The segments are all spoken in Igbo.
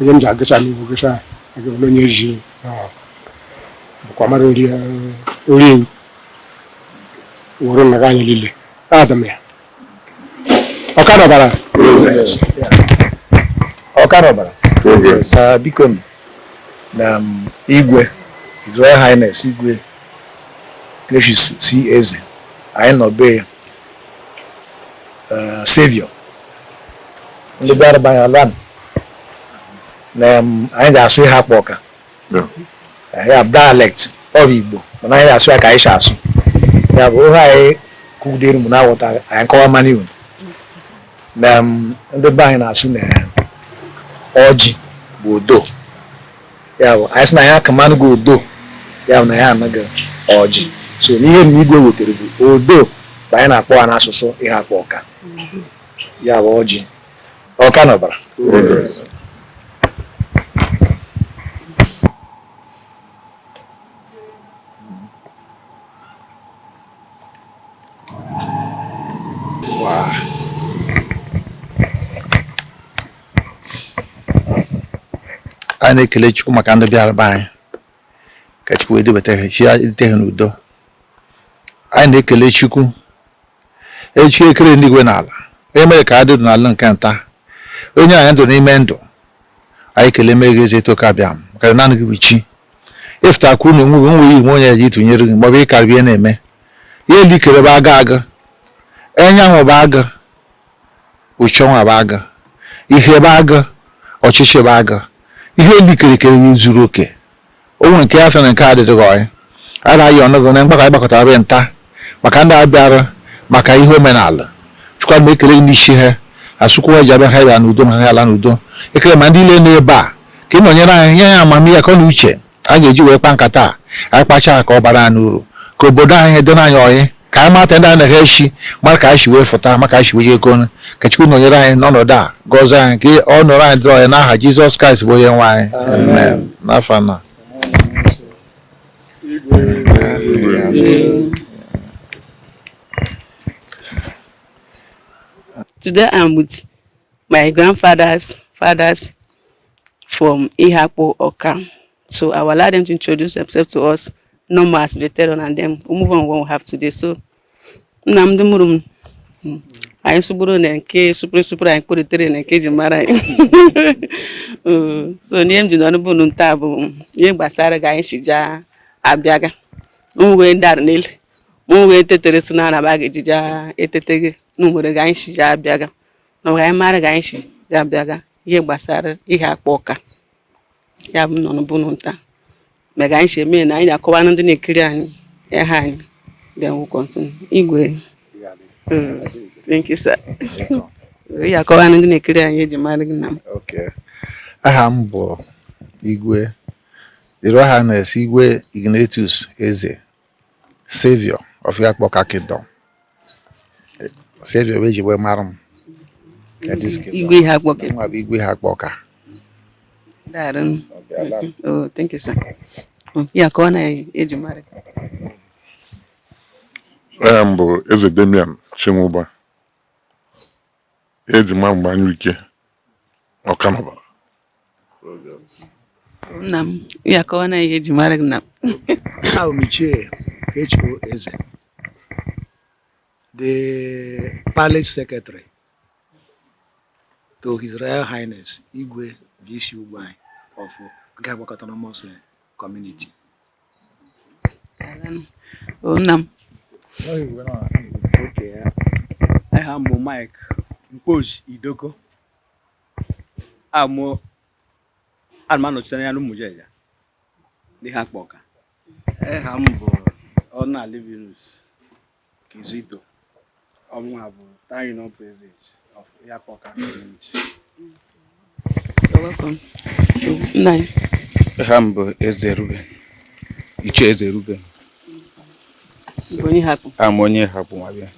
onye m ji agụcha m iwu gụcha agụbụla onye ji bụkwa mara ori ewu wụrụ maka anyị niile adị m ya Ọka na Ọbara Ọka na Ọbara biko m na igwe His Royal Highness igwe Gracious C. Eze anyị nọ be ya eh, savior ndị bịara be anyị alụa na em, anyị ga-asụ Iheakpụ Ọka Yeah. Eh, ya bụ dialect of Igbo mana anyị ga-asụ ya ka anyị si asụ ya bụ ihe anyị kwugidere mụ na-aghọta anyị kọwa mmanụ iwu na em, ndị be anyị na-asụ na ọjị bụ odo ya bụ anyị sị na ya akamanụgo odo ya bụ na ya anaghị ọjị so ihe igwe wetara bụ odo bụ anyị na-akpọ ya n'asụsụ Iheakpụ Ọka ya bụ ọjị Ọka na Ọbara anyị na-ekele Chukwu maka ndị bịara be anyị ka Chukwu wee dubata ha si dute ha n'udo anyị na-ekele Chukwu chi kere igwe na ala onye mere ka a dị ndụ n'ala nke nta o nyena anyị ndụ n'ime ndụ anyị ekeleme gị eze toka bịa m maka na naanị gị bụ chi ị fụta ka unu onwe nwe iwu onye eji tụnyere gị maọbụ ịkarịbie na-eme ihe ile i kere bụ agụ enyanwụ bụ agụ uchenwa bụ agụ ihe bụ agụ ọchịchị bụ agụ ihe ile i kere ekere zuru oke o nweghị nke a sị na nke a adịghị ọyị anyị na-ayọ gị na mgbakọ anyị gbakọta be a nta maka ndị a bịara maka ihe omenala chukwa mgbe ekele ndị isi ha asụkwuo ji abịa ha bịa n'udo ha ala n'udo ekele ma ndị ile n'ebe a ka ị nọnyere anyị nye anyị amamihe akọ na uche a ga-eji wee kpa nkata a anyị kpachaa ka ọ bara anyị uru ka obodo anyị dịrị anyị ọyị ka anyị mata ndị anaghị echi mara ka anyị si wee fụta mara ka anyị si wee jekọrọ ka Chukwu nọnyere anyị n'ọnọdụ a gọzie anyị ka ọnọdụ anyị dịrị ọyị n'aha Jizọs Kraịst bụ onye nwe anyị amen n'afọ na Today I'm with my grandfathers, fathers from Iheakpu Awka. So I will allow them to introduce themselves to us, normal as veteran, and then we move on what we have today. So nna m ndị mụrụ m, anyị sụgburu na nke supere supere anyị kpụritere na nke ji mara anyị so n'ihe m ji nọrọ be a nta bụ ihe gbasara ga anyị si jaa abịaga m wee dara n'elu m wee tetere si na anaba ga-eji jaa etete gị na nwere ga anyị si jaa abịaga na anyị mara ga anyị si jaa abịaga ihe gbasara Iheakpu Awka ya bụ nọ n'ụbụrụ nta mega anyị si eme na anyị akọwa na ndị na-ekiri anyị aha anyị then we'll continue igwe Mm, thank you sir ị akọwa na ndị na-ekiri anyị ihe eji mara gị nna m Okay. aha m bụ igwe His Royal Highness igwe Ignatius eze Savior of Iheakpu Awka Kingdom. Savior bụ eji wee mara m. Igwe Iheakpu Awka. Mụwa bụ igwe Iheakpu Awka. Daarụ. Oh, thank you sir. Oh, ya akọwa na ihe eji mara gị. Aha m bụ Eze Damian Chinwụba. Eji ma m bụ anyụike ọkanọba nna m ya akọwa na ihe eji mara gị nna m abụ m ichie ka echiro eze the palace secretary to his royal highness igwe vc Ugwuanyị of Ugo Iheakpu Awka autonomous community nna m aha m bụ Mike Mkpoji Idoko amụ ana m anọchite anya n'Umujeja n'Iheakpu Awka aha m bụ Ọna Livinus Kizito ọmụwa bụ Town Union President of Iheakpu Community. aha m bụ Eze Ruben Ichie Eze Ruben a m onye Iheakpu nwa bịa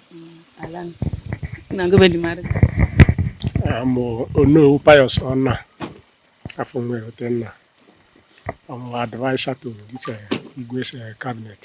a m onowu Pius Ọna afọ nwere otenna ọmụ advisor to Igwe's eh, cabinet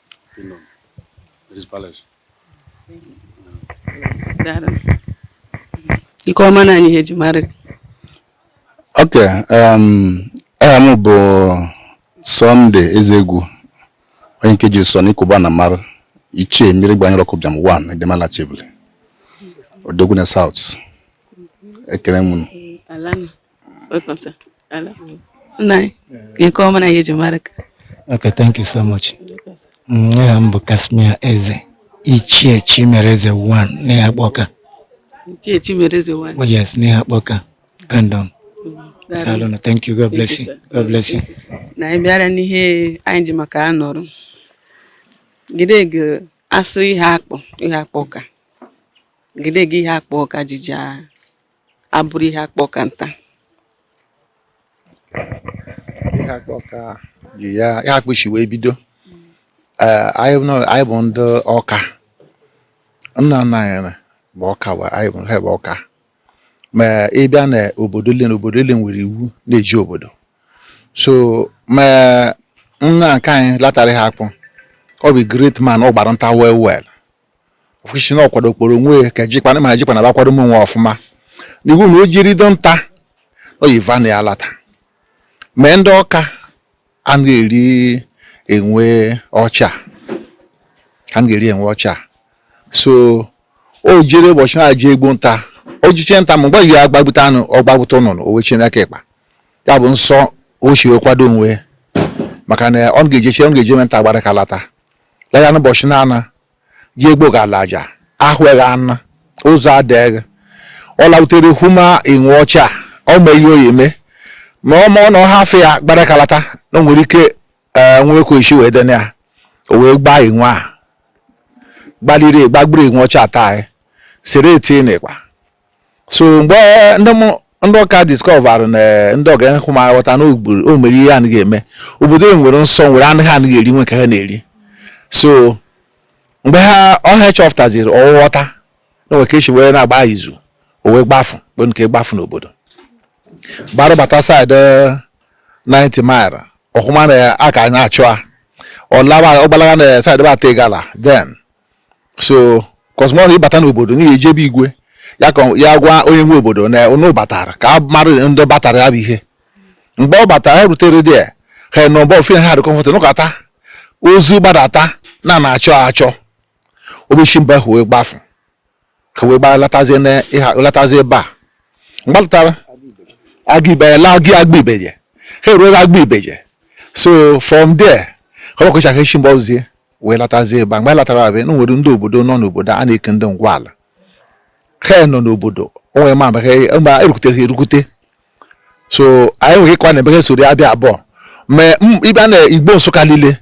ị kọwa na anyị ihe eji mara ok um, aha m bụ Sunday ezegwu onye nke ji sọ n'ikuba na mara ichie mmiri gbanyere ọkụ bịam 1 edemala chebule odogwu na South ekele m Welcome, sir. Alụa. Nna anyị. Ị kọwa na anyị ihe eji mara gị. Okay, thank you so much. Aha m bụ Casmir Eze, Ichie Chimereze 1 n'Iheakpu Awka. Ichie Chimereze 1. Oh, yes, n'Iheakpu Awka Kingdom. Daalụ na thank you. God bless you. God bless you. Na anyị bịara n'ihe anyị ji maka ya nọrọ. Gide gị asụ Iheakpu, Iheakpu Awka. Gide gị Iheakpu Awka ji jaa abụrụ Iheakpu Awka nta Iheakpu Awka ji ya Iheakpu shi wee bido Eh, anyị nọ- anyị bụ ndị Awka nna nna anyị na- bụ Awka wa anyị bụ ha bụ Awka ma ị bịa na obodo ile na obodo ile nwere iwu na-eji obodo so ma nna nke anyị latara Iheakpu ọ bụ great man ọ gbara nta well well kwụsị na ọ kwado kporo onwe ka jikwana ma jikwana bakwado m onwe ọfụma n'iwu na o jere do nta oyiva na ya lata mee ndị Awka anaghị eri enwe ọcha ha anaghị eri enwe ọcha so o jere ụbọchị na-eje egbu nta o jeche nta ma mgbe ya agbagbute anụ ọ gbagbute ụnụnụ o wechie n'aka ịkpa ya bụ nsọ o si wee kwado onwe maka na ọ ga-ejeche ọ ga-eje nta gbara aka lata laya n'ụbọchị na-ana ji egbo ga-ala aja ahụghị anụ ụzọ adịghị ọ lautere hụma enwe ọcha ọ ma ihe ọ ya-eme ma ọ ma ọ na ọ hafụ ya gbara aka lata na o nwere ike ee nwekwa isi wee dene ya o wee gbaa enwe a gbaliri gbagburu enwe ọcha ata sere tie n'ịkpa so mgbe ndị Awka discover na eh, ndị ọha hụma ghọta na o mere ihe anaghị eme obodo e nwere nsọ nwere anụ ha anaghị eri nwee nke ha na-eri so mgbe ha ọha chọpụtaziri ọ ghọta na nwere ka e si wee na-agba izu o wee gbafu mgbe nke gbafu n'obodo gbara bata side 9th Mile ọ hụma na a ka na-achụ a ọ gbalaga na side bata Igala then so cause ma ụnụ bata n'obodo ụnụ ya-eje be igwe ya ka ya gwa onye nwe obodo na ụnụ batara ka a mara ndị batara ya bụ ihe mgbe ọ batara ya rutere there ha nọ mgbe ofe ha dị comfort nọkata ozi gbadata na a na-achọ achọ o be shi mbe ahụ wee gbafu ka wee gbaa latazie na ịha latazie ebe a mgbe lụtara Aguibeje laa Aguibeje ha eruola Aguibeje so from there ka ọ kwụchaghị echi mgbe ọzie wee latazie ebe a mgbe latara abịa na nwere ndị obodo nọ n'obodo a na-eke ndị ngwa ala ha nọ n'obodo onwe ma mgbe ha erukutere ha erukute so anyị nwere ịkwa na ebe ha soro ya bịa abụọ ma ịbịa na Igbo Nsukka niile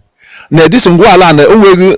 na edisi ngwa ala na onweghị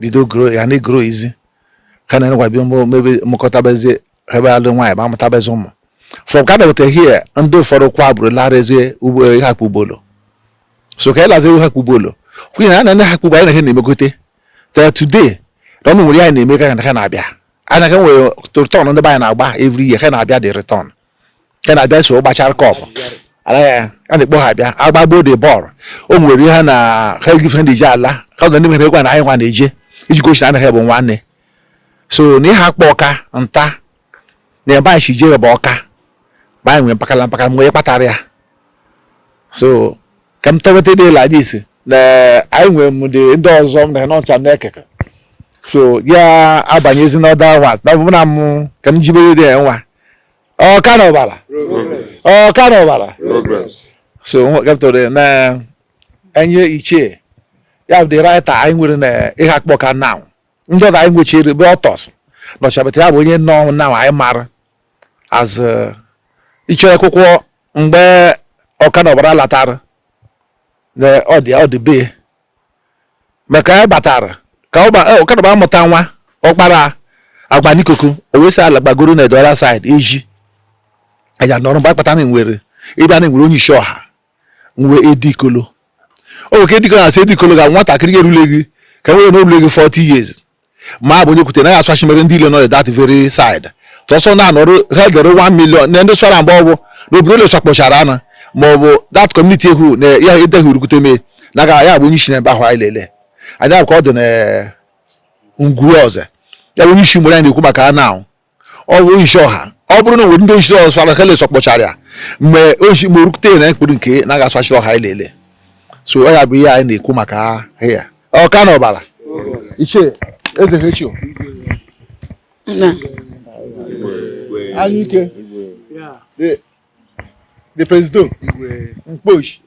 bido grow ya na-egrowzi ka na enekwa bịa mebe mụkọtabezie ebe alụ nwaanyị ma amụtabezi ụmụ from ka na-eweta hie ndị ụfọdụ kwa bụrụ larazie ugbo Iheakpu Obollo so ka ịlazi Iheakpu Obollo kwunye na na Iheakpu Obollo anyị na ha na-emegote ta today na ọnụ nwere anyị na-eme ka ha na-abịa anyị ka nwere return ndị be anyị na-agba every year ha na-abịa the return ka na-abịa so gbachara cup a na-ekpo ha abịa agbagbo the ball o nwere ihe na ha ejife ndị ji ala ha na ndị mere egwu na anyị nwa na-eje iji gosi na anaghị bụ nwanne so na ịhakpụ ọka nta na ebe anyị si jee bụ ọka ma anyị nwere mpakala mpakala mgbe kpatara ya so ka m tọweta the leaders na anyị nwere m dị ndị ọzọ m na n'ọcha m na-ekeke so ya abanyezi n'ọda nwa na ọbụna m ka m jibere dị ya nwa ọka na ọbara ọka na ọbara so gapụtara na onye ichie ya bụ the writer anyị nwere na ịhakpụ ọka now ndị ọzọ anyị nwechiri bụ ọtọs nọchabata ya bụ onye nọ na anyị mara as uh, ichie akwụkwọ mgbe ọka na ọbara latara na ọ dị ọ dị be maka ya batara ka ọkadaba amụta nwa ọkpara agba n'ikuku o wee si ala gbagoro na the other side eji anya nọrọ mgbe akpata na nwere ebe a na-enwere onye isi ọha nwe edikolo o nwere ka edikolo na-asị edikolo ga nwatakịrị erulegị ka nwere na orulegị 40 years ma bụ onye kwute na ya aswachi mere ndị ile nọ that very side tọsọ na-anọrụ ha dere 1 million na ndị swara mgbe ọ bụ na obodo ole swakpọchara ana ma ọ bụ that community ekwu na ya edeghị urukwute mee na aga ya bụ onye isi na ebe ahụ anyị lele anya ka ọ dị na ngwu ọzọ ya bụ onye isi mgbe anyị na-ekwu maka ana ahụ ọ bụ isi ọha ọ bụrụ na nwere ndị isi ọzọ sara hele sọkpọchara ya mgbe ochi ma orukute na mkpụrụ nke na aga asachiri ọha anyị lele so ọ ya bụ ihe anyị na-ekwu maka ya ọka na ọbara ichie eze hechio anyụike the president mkposhi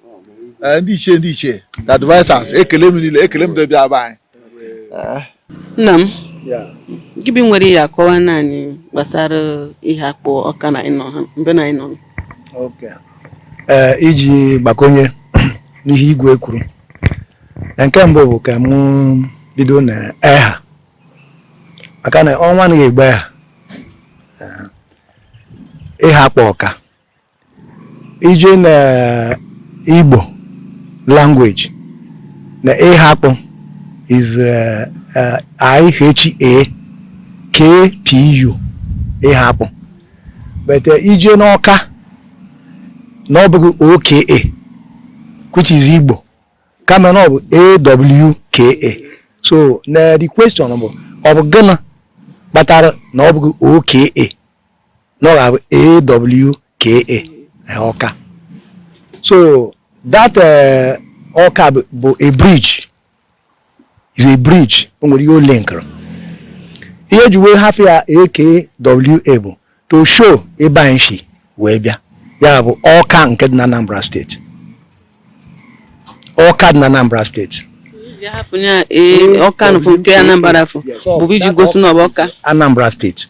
eh, ndị ichie ndị ichie the advisers ekele m niile ekele m ndị ọbịa be anyị eh. nna m gị bi nwere ihe akọwa naanị gbasara iheakpụ ọka na ịnọ ha mbe na ịnọ eh, iji gbakonye n'ihe igwe kwuru nke mbụ bụ ka mụ bido na eha maka na ọnwa anaghị egbe eha ịhakpụ ọka i jee na igbo language na ịhakpụ is uh, uh, I-H-A-K-P-U ịhakpụ but uh, i jee n'ọka na ọ bụghị OKA which is igbo kama na ọ bụ awka so na the question bụ ọ bụ gịnị kpatara na ọ bụghị oka na ọ ga-abụ awka ọka so that eh, ọka bụ a bridge is a bridge o nwere ihe o linkere ihe eji wee hafụ ya AKWA bụ to show ebe anyị si wee bịa ya bụ Ọka nke dị na Anambra steeti Ọka dị na Anambra steeti Ọka nke Anambra bụ iji gosi na ọ bụ Ọka Anambra steeti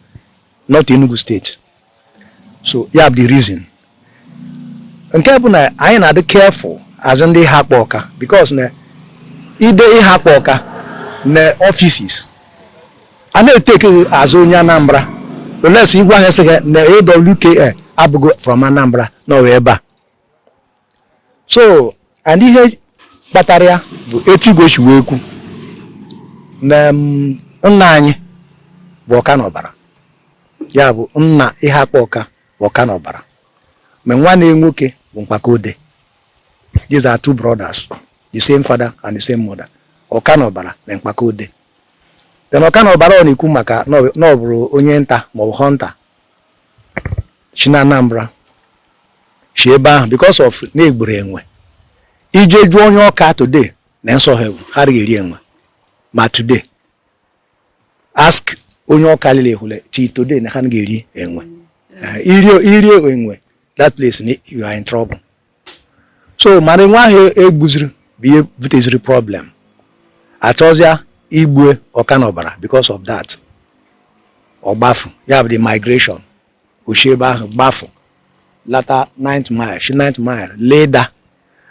not Enugu steeti so ya bụ the reason nke bụ na anyị na-adị careful as ndị Iheakpu Ọka because na ide Iheakpu Ọka na offices a na-etake as onye Anambra unless ị gwa ha sịkwa na AWKA abụghị from Anambra na ọ wụ ebe a so and ihe kpatara ya bụ etu igwe si wee kwu na mm, nna anyị bụ Ọkanọbara ya bụ nna Iheakpu Ọka bụ Ọkanọbara ma nwanne nwoke bụ Mkpaka Ode these are two brothers the same father and the same mother Ọkanọbara na Mkpaka Ode then Ọkanọbara ọ na-ekwu maka na ọ bụrụ onye nta maọbụ hunter si na Anambra si ebe ahụ because of na egburu enwe i jee jụọ onye Ọka today na nsọ ha bụ ha adịghị eri enwe ma today ask onye Ọka lile ehule till today na ha anaghị eri enwe i rie enwe that place you are in trouble so mana enwe ahụ egbuziri bụ ihe buteziri problem achọzịa igbue Ọkanọbara because of that ọgbafu ya bụ the migration oshi ebe ahụ gbafu lata 9th mile shi 9th mile la Idah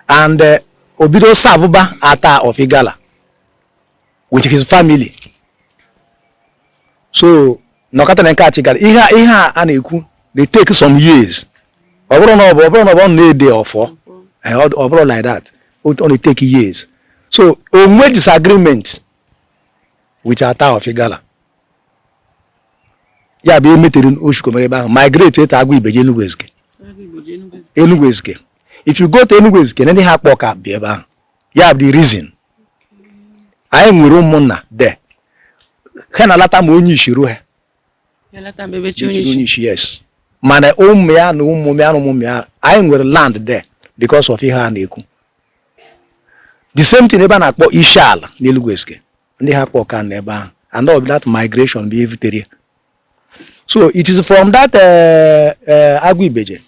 and eh, obido savụba Attah of Igala with his family so nọkata na nke a chigara ihe ihe a na-ekwu they take some years ọ bụrụ na ọ bụ ọ bụrụ na ọ bụ na-ede ọfọ eh, ọ bụrụ like that ọ na-etake years so onwe disagreement with Attah of Igala ya bụ emetere oshikomere ebe ahụ migrate to Aguibeje Enugu Ezike Enugu Ezike if you go to Enugu Ezike na ndị Iheakpu Ọka bi ebe ahụ ya bụ the reason anyị nwere ụmụnna there ha na-alata ma onye isi ruo ha onye isi yes mana ụmụ ya na ụmụ ya na ụmụ ya anyị nwere land there because of ihe a na-ekwu the same thing ebe a na-akpọ isi ala n'Enugu Ezike ndị Iheakpu Ọka nọ ebe ahụ and all that migration bụ ihe butere so it is from that eh, eh, Aguibeje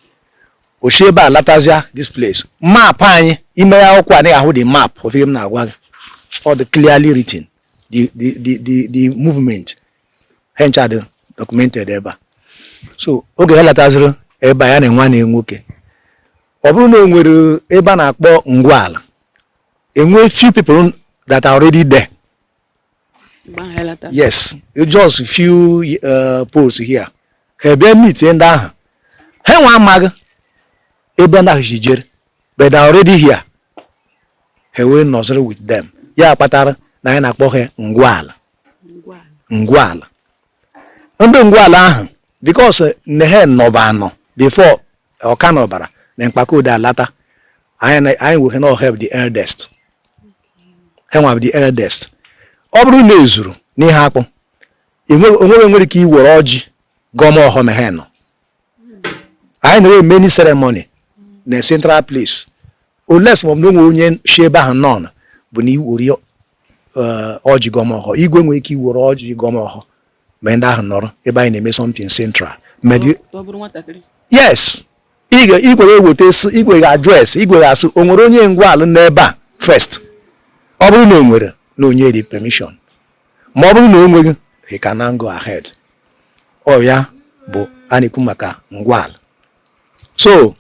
oshi ebe a latazia this place ma ị banye ime ya akwụkwọ anyị ahụ the map of ihe m na-agwa gị ọ dị clearly written the the the the, the movement ha ncha dị documented ebe a so oge ha lataziri ebe a ya na nwanne nwoke ọ bụrụ na o nwere ebe a na-akpọ ngwa ala enwe few people that are already there yes just few uh, posts here ha bịa meet ndị ahụ ha nwe amaghị ebe ndị ahụ ji jere but they are already here ha wee nọziri with them ya kpatara na anyị na-akpọ ha Ngwala Ngwala ndị Ngwala ahụ because na ha nọba anọ before ọka na ọbara na mkpakode alata anyị wee ha na ha bụ the eldest ha nwa bụ the eldest ọ bụrụ na e zuru n'Iheakpụ o nwere nwere ike iwere ọjị gọọma ọhọ ma ha nọ anyị na-enwe many ceremony na central place unless ma ọ bụ na o nwe onye si ebe ahụ nọ bụ na iwere ọjị gọọma ọhọ igwe nwere ike iwere ọjị gọọma ọhọ ma ndị ahụ nọrọ ebe anyị na-eme something central yes igwe ga-eweta igwe ga-address igwe ga-ask o nwere onye Ngwala n'ebe a first ọ bụrụ na o nwere na o nye the permission ma ọ bụrụ na o nweghị he can now go ahead ọ ya bụ a na-ekwu maka Ngwala so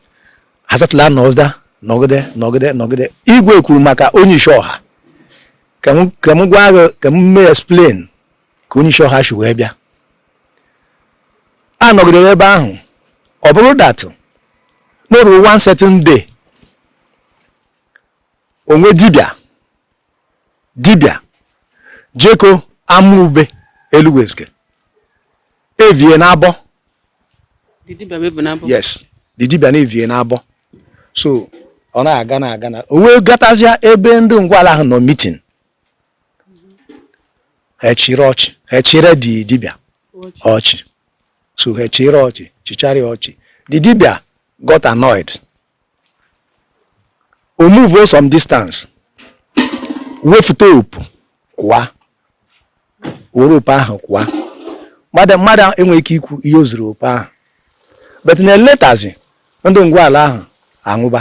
ha settle nọzi there nọgide nọgide nọgide igwe kwuru maka onye isi ọha ka m gwa gị ka m mee explain ka onye isi ọha si wee bịa a nọgidere ebe ahụ ọ bụrụ that na o ruru one certain day o nwee dibịa dibịa jeko Amube Elugwu Ezike evie na abọ yes the dibịa na evie na abọ so ọ na-aga na-aga na o wee gatazịa ebe ndị Ngwala ahụ nọ meeting ha chịrị ọchị ha chịrị the dibịa ọchị so ha chịrị ọchị chịchara ya ọchị the dibịa got annoyed o move some distance wefute opu kwaa were opu ahụ kwaa mmadụ enweghị ike ikwu ihe o ziri opu ahụ but na later zi ndị Ngwala ahụ anwụba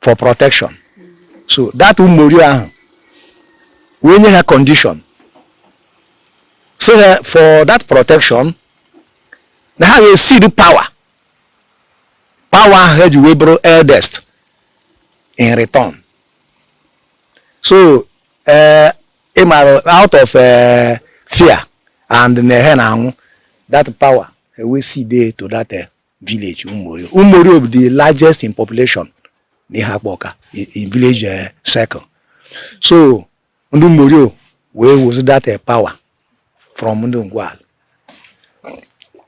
for protection so that Ụmụorio ahụ wee nye ha condition sị ha for that protection na ha ga-ecede power power ahụ ha ji wee bụrụ eldest in return so eh, ị mara out of eh, fear and na ha na-anwụ that power ha wee cede ya to that eh, village Ụmụorio. Ụmụorio bụ the largest in population n'Iheakpụ Ọka in village eh, circle so ndị Ụmụorio wee wezi that eh, power from ndị Ngwala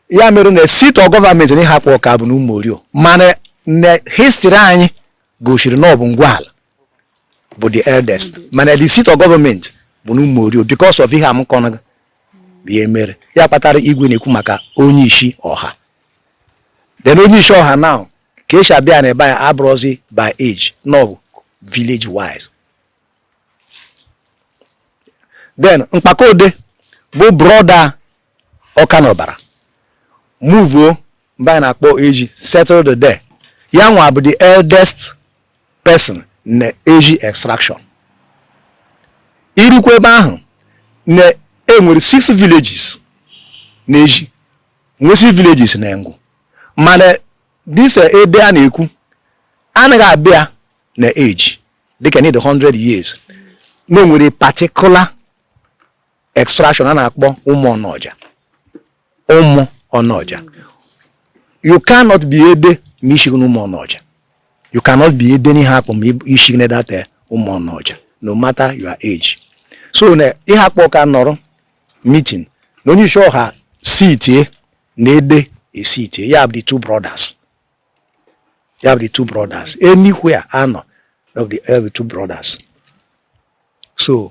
ya mere na seat of government n'Iheakpụ Ọka bụ na Ụmụorio mana na history anyị gosiri na ọ bụ Ngwala bụ the eldest mana the seat of government bụ na Umorio because of ihe a m kọrọ ihe mere ya kpatara igwe na-ekwu maka onye isi ọha then onye isi ọha now ka esi abịa na ebe a abụrọzi by age na ọ bụ village wise then mkpakode bụ broda Ọka na Ọbara muvuo ebe a na-akpọ Ezi settled there ya nwa bụ the eldest person na Ezi extraction i rukwa ebe ahụ na e nwere six villages na Ezi nwee six villages na Enugwu mana this eh, ede a na-ekwu anaghị abịa na age dịka na ị dị 100 years na o nwere particular extraction a na-akpọ ụmụ ọnọja ụmụ ọnọja you cannot be ede ma i shighi n'ụmụ ọnọja you cannot be ede n'Iheakpụ ma i shighi na that eh, ụmụ ọnọja no matter your age so na Iheakpụ Ọka nọrọ meeting na onye isi ọha sitie na ede sitie ya bụ the two brothers ya bụ the two brothers anywhere a nọ of the, of the two brothers so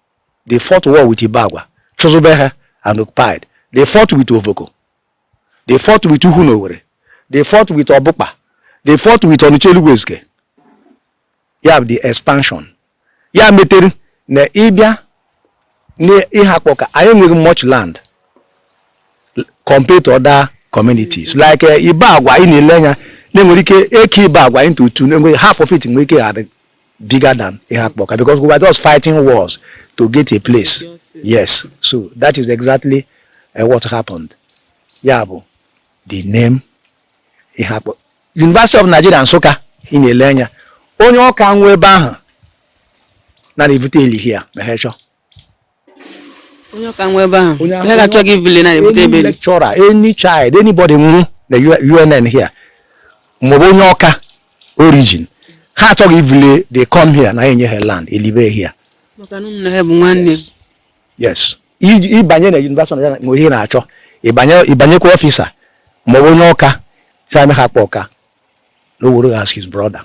they fought war with Ibagwa, chụzube ha and occupied. They fought with Ovoko. They fought with Uhunowere. They fought with Obukpa. They fought with Onicha Elugwu Ezike. You have the expansion. Ya metere na ị bịa n'Iheakpụ Ọka anyị enweghị much land compared to other communities like eh, Ibagwa ị na-ele anya na e nwere ike ekee Ibagwa into two half of it nwere ike ịdị bigger than Iheakpụ Ọka because we were just fighting wars to get a place yes so that is exactly uh, what happened ya bụ the name Iheakpụ University of Nigeria Nsụka ị na-ele anya onye Ọka nwụọ ebe ahụ a na-ebute eli here ma ha chọọ onye Ọka nwụọ ebe ahụ onye ha achọghị ivule a na-ebute ebe a lecturer any child anybody nwụrụ na UNN here ma ọ bụ onye Ọka origin ha achọghị ivule they come here na enye ha land elibe here yes ị banye na yunivasịtị na nwe ihe na-achọ ị banyekwa ọfịsa ma ọ bụ onye Ọka sị ya m Iheakpụ Ọka na o were as his brother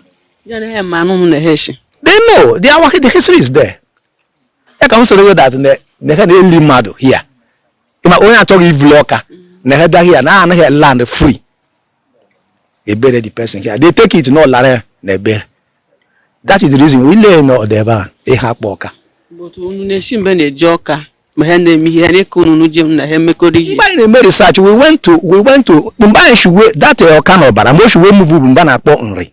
they know the history is there ya ka m sịrị gị that na ha na-eli mmadụ hia ma onye achọghị ivulu Ọka na ha bịa hia na enye ha land free e bury the person here they take it na ọ lara na be ya that is the reason we lee na ọdọ ebe a Iheakpụ Ọka unu na-esi ebe a na-eje Ọka ma ha na-eme ihe anyị ka unu je na ha emekọrọ ihe mgbe anyị na-eme research we went to we went to ebe anyị shi wee that Ọka na Ọbara ebe o shi wee move bụ ebe a na-akpọ Nri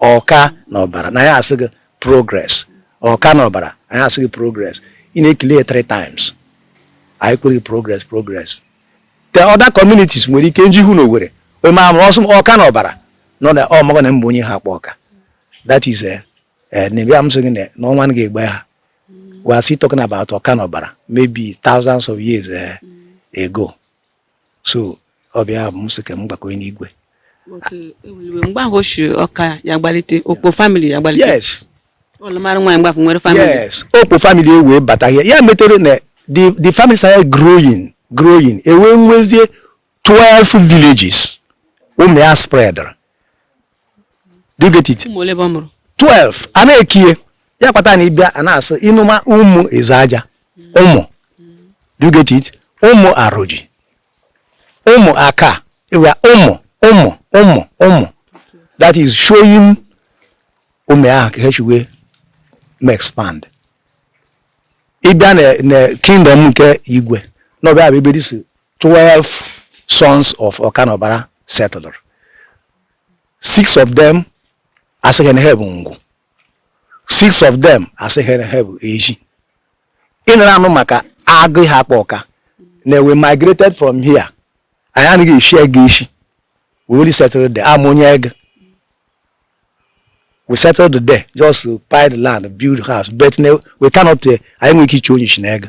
ọka na ọbara na ya asị gị progress ọka na ọbara anyị asị gị progress ị na-ekele ya three times anyị kwere gị progress progress the other communities nwere ike nji hụ na o nwere onye ma amụrụ ọsọ ọka na ọbara nọ na ọmụgọ na ọ bụ onye Iheakpu Awka that is eh, eh, na ebe m sị gị na ọnwa na ga-egbe ha we are still talking about ọka na ọbara maybe thousands of years eh, ago so ọ bịa bụ m sị ka m gbakọnye n'igwe mgbe ahụ o shi Awka ya gbalite Okpo family ya gbalite yes ọlụmara nwaanyị mgbapụ nwere family yes Okpo family e wee bata ya ya metere na the the family started growing growing e wee nwezie 12 villages ụmụ ya spreadara do you get it 12 a na-ekiye ya kwata na ị bịa a na-asị ị nụma ụmụ Ezeaja ụmụ do you get it ụmụ Aroji ụmụ aka ịwa ụmụ ụmụ ụmụ ụmụ that is showing ụmụ ahụ ka ha shi wee mee expand ị bịa na kingdom nke igwe nọ ebe a bụ ebe these 12 sons of Okanobara settled. Six of them a sị ha na ha bụ Ngwụ. Six of them a sị ha na ha bụ Ezi. Ị nụrụ anụ maka Agụ Iheakpu Awka na we migrated from here. Anyị anaghị eshi Egu eshi. We only settled there. Abụ m onye Egu. We settled there just to buy the land, build house, but we cannot, eh, anyị enweghị ike ichi onye ishi na Egu.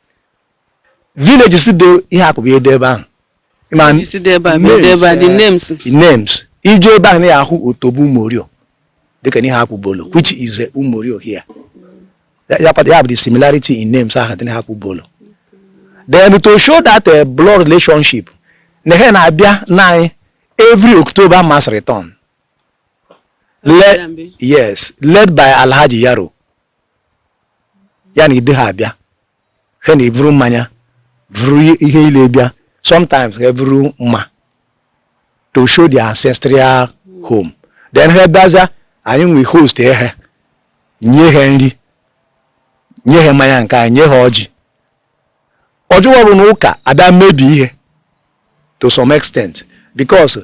villages dị Iheakpu ebe a dị ebe ahụ Ma villages dị ebe a, bụ ede ebe a, the eh, names. the names i je ebe ahụ na ị ya-ahụ Otobo Umorio dịka Iheakpu Obollo which is eh, umorio here ya ya kpata- ya bụ the similarity in names ahụ dị na Iheakpu Obollo then to show that eh, blood relationship na ha na-abịa na anyị every october mass return Le- yes led by alhaji yaro ya na ndị ha abịa ha na-evuru mmanya vuru ihe ile bịa sometimes ha vuru mma to show the ancestral home then ha bịaza anyị ewee host ha nye ha nri nye ha mmanya nke anyị nye ha ọjị ọjọọ bụ na ụka abịa mebi ihe to some extent because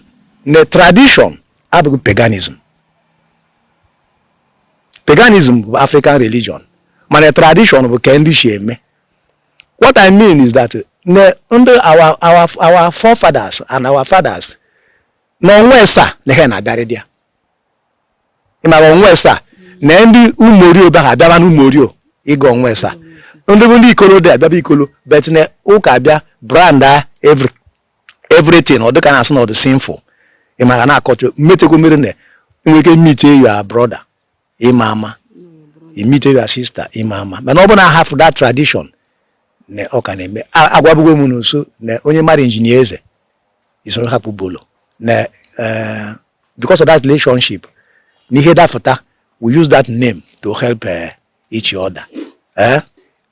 the tradition abụghị paganism paganism bụ african religion mana tradition bụ ka ndị shi eme what i mean is that na ndị our our our forefathers and our fathers na ọnwa esa na ha na-abịarị dị ya ị mara onwesa na ndị umorio bịa ha bịaba n'umorio ịga onwesa ndị bụ ndị ikolo dị abịaba ikolo but na ụka abịa brand a everything ọ dịka na-asị na ọ dị sinful ị mara na-akọcha mmetekwa mere na enwere ike meet your brother ịma ama ị meet your sister ịma ama mana ọ bụ na hafụ that tradition na ọ ka na-eme agwabugo m n'uso na onye mara injinia eze isoro Iheakpu Obollo na eh, because of that relationship na ihe dapụta we use that name to help eh, each other eh?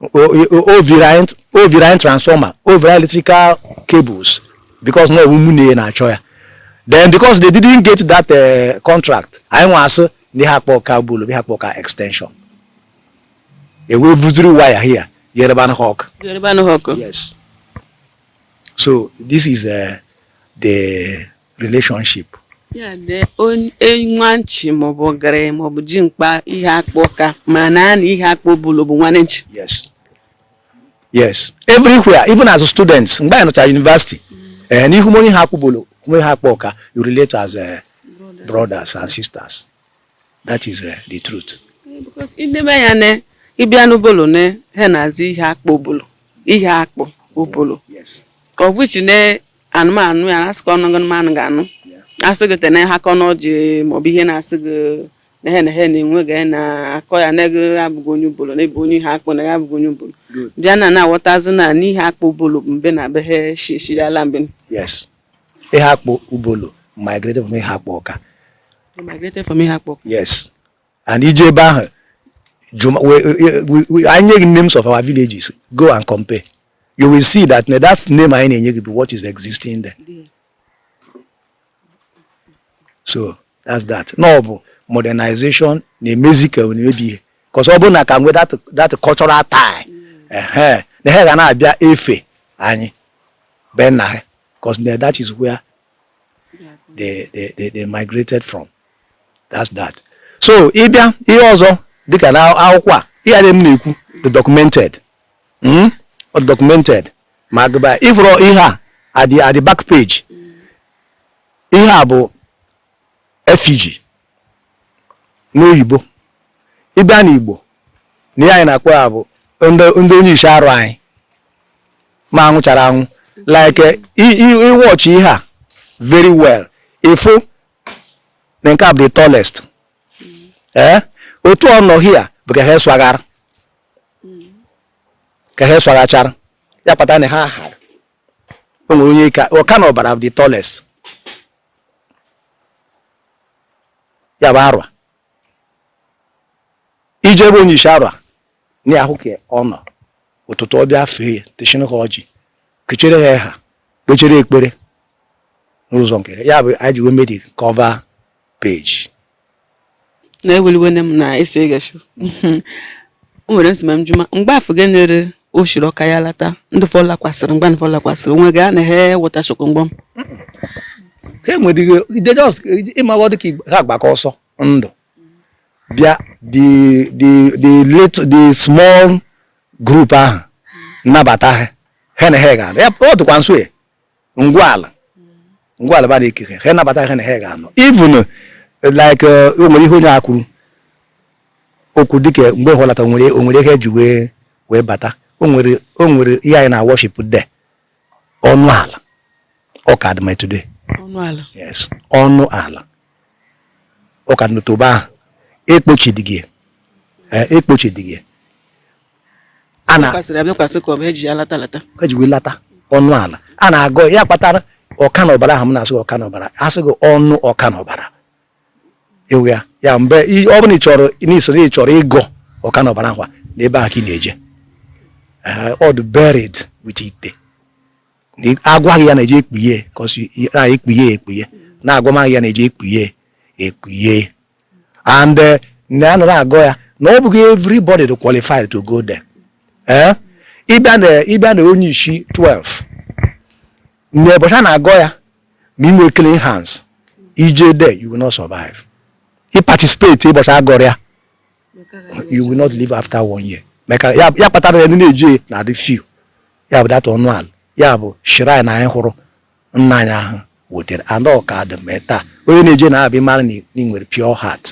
o vuru anyị transformer o vuru anyị electrical cables because na ọ wụ mụ na na-achọ ya then because they didn't get that uh, contract anyị nwa asị na Iheakpu Awka Obollo Iheakpu Awka extension e wee vuziri wire here yereba anyị ọkụ yereba anyị ọkụ yes So this is uh, the relationship. Yeah, the nwanchi maọbụ ogere maọbụ ji mkpa Iheakpu Awka ma na anyị Iheakpu Obollo bụ nwanne nchi. Yes. Yes. Everywhere, even as students, mgbe anyị nọcha university, eh, na ị hụ onye Iheakpu Obollo, onye Iheakpu Awka, you relate as uh, brothers and sisters. that is uh, the truth because ineme ya ne ị bịa n'Obollo ne ha na-asị Iheakpu Obollo Iheakpu Obollo of which ne anụmanụ ya asịkọ ọnụ anụmanụ ga-anụ asị gị tene ha kọ n'ọjị maọbụ ihe na-asị gị na ha na ha na-enwe ga na-akọ ya na gị abụghị onye Obollo na ị bụ onye Iheakpu na ya abụghị onye Obollo bịa na na-aghọtazi na Iheakpu Obollo mbe na be ha shishirala mbe yes Iheakpu Obollo migrated from Iheakpu Awka migrated from Iheakpu Awka yes and ị je ebe ahụ anyị nye gị names of our villages go and compare you will see that na that name anyị na-enye gị bụ what is existing there so that's that na ọ bụ modernization na-emezi ka na-emebi ihe because ọ bụrụ na ka nwe that cultural tie na ha ga na-abịa efe anyị be nna ha because that is where they, they, they, they migrated from that's that so ị bịa ihe ọzọ dịka na akwụkwọ a ihe a dum m na-ekwu dị documented hmm? documented ma agụba ị fụrụ ihe a at the, at the back page ihe a bụ effigy n'oyibo ị bịa n'igbo na ihe anyị na-akpọ ya bụ ndị onyishi arụa anyị ma anwụchara anwụ like ị watch ihe a very well ị fụ na nke a bụ the tallest ee eh? otu ọ nọ here bụ ka ha eswaghara ka ha eswaghachara ya kpata na ha hara o nwere onye ka ọka na ọbara the tallest ya bụ arụa i je ebe onye ishi arụa na ahụ ka ọ nọ ụtụtụ ọ bịa fee ya techin ha ọjị kechere ha ha kpechere ekpere so nke ya bụ anyị ji wee mee the cover page na eweliwene m na esi egashu o nwere nsima m juma mgbe afọ gị nyere o shiri ọka ya lata ndị fọ lakwasịrị mgbe fọ lakwasịrị onwe gị a na he wọta shọkụ mgbọ m ha enwere ihe ide just ịmaghọ dị ka ha gbara ọsọ ndụ bịa the the the little the small group ahụ a nabata ha ha na ha ga-anọdụkwa nso ya ngwala ngwala ba na-ekere ha nabata ha na ha ga-anọ even like uh, o nwere ihe onye a kwuru okwu dịka mgbe ha lata nwere o nwere ihe e ji wee wee bata o nwere o nwere ihe anyị na worship there ọnụ ala ọ ka dị ma today ọnụ ala yes ọnụ ala ọ ka dị n'otobo ahụ ekpochidịghị ekpochidịghị a na kwasịrị abịakwasị ka ọ bụ e ji ya lata lata e ji wee lata ọnụ ala a na-agọ ya kpatara ọka na ọbara ahụ m na-asị gị ọka na ọbara asị gị ọnụ ọka na ọbara ewu ya ya mgbe i- ọ bụla ị chọrọ n'isoro ị chọrọ ịgọ ọka na ọbara ahụ a, na ebe ahụ ka ị na-eje Eh, ọ dị buried with ite Na ị- agwaghị ya na-eje ekpughe 'cause na ekpughe ekpughe na-agwamaghị ya na-eje ekpughe ekpughe and eh, na a nọrọ agọ ya na ọ bụghị everybody dị qualified to go there eh? ị bịa na onye isi 12 na ụbọchị a na-agọ ya ma ị nwee clean hands i je there you will not survive i participate ụbọchị a gọrọ ya you will not live after one year maka ya kpatara ndị na-eje na-adị few ya bụ that ọnụ ala ya bụ shrine anyị hụrụ nna anyị ahụ wetara and ọ ka dị ma taa onye na-eje n'ebe a mara na ị nwere pure heart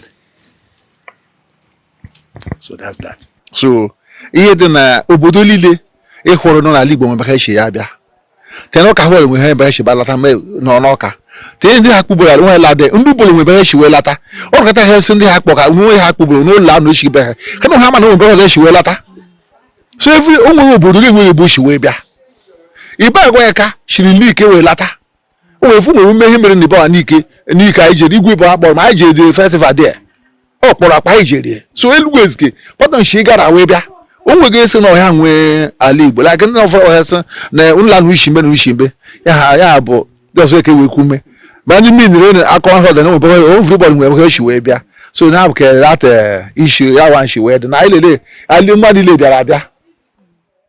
so that's that so ihe dị na obodo niile ị hụrụ nọ n'ala Igbo nwere ebe o shi ya bịa tee n'ọka hụ enwe ha ebe ha shi wee lata nọ n'ọka tee ndị Ihakpụ Obolo ala nwe lade ndị Obolo nwe ebe ha shi wee lata ọ rụkọta ha esi ndị Ihakpụ Ọka na Ihakpụ Obolo n'ụlọ anụ echi be ha kama ha ma na nwe ebe ha shi wee lata so every o nwere obodo gị nwere ebe o shi wee bịa Ibagwa Aka shiri Nike wee lata o wee fụ nwere ume ihe mere na Ibagwa Nike Nike anyị jere igwe bụ akpọrọ ma anyị jere festival there ọ kpọrọ akpa anyị jere so Elugwu Ezike pọtọ shi Igala wee bịa o nweghị esi na ọ ha nwe ala Igbo like ndị na ụfọdụ ha sị na ụlọ anụ ushi mbe na ushi mbe ya ha ya bụ just eke wee kume ma ndị mmiri na-akọ ha ọ dị na everybody nwe ebe ha shi wee bịa so na abụka that eh, issue ya wa shi wee dị na anyị liile ali mmadụ ile bịara abịa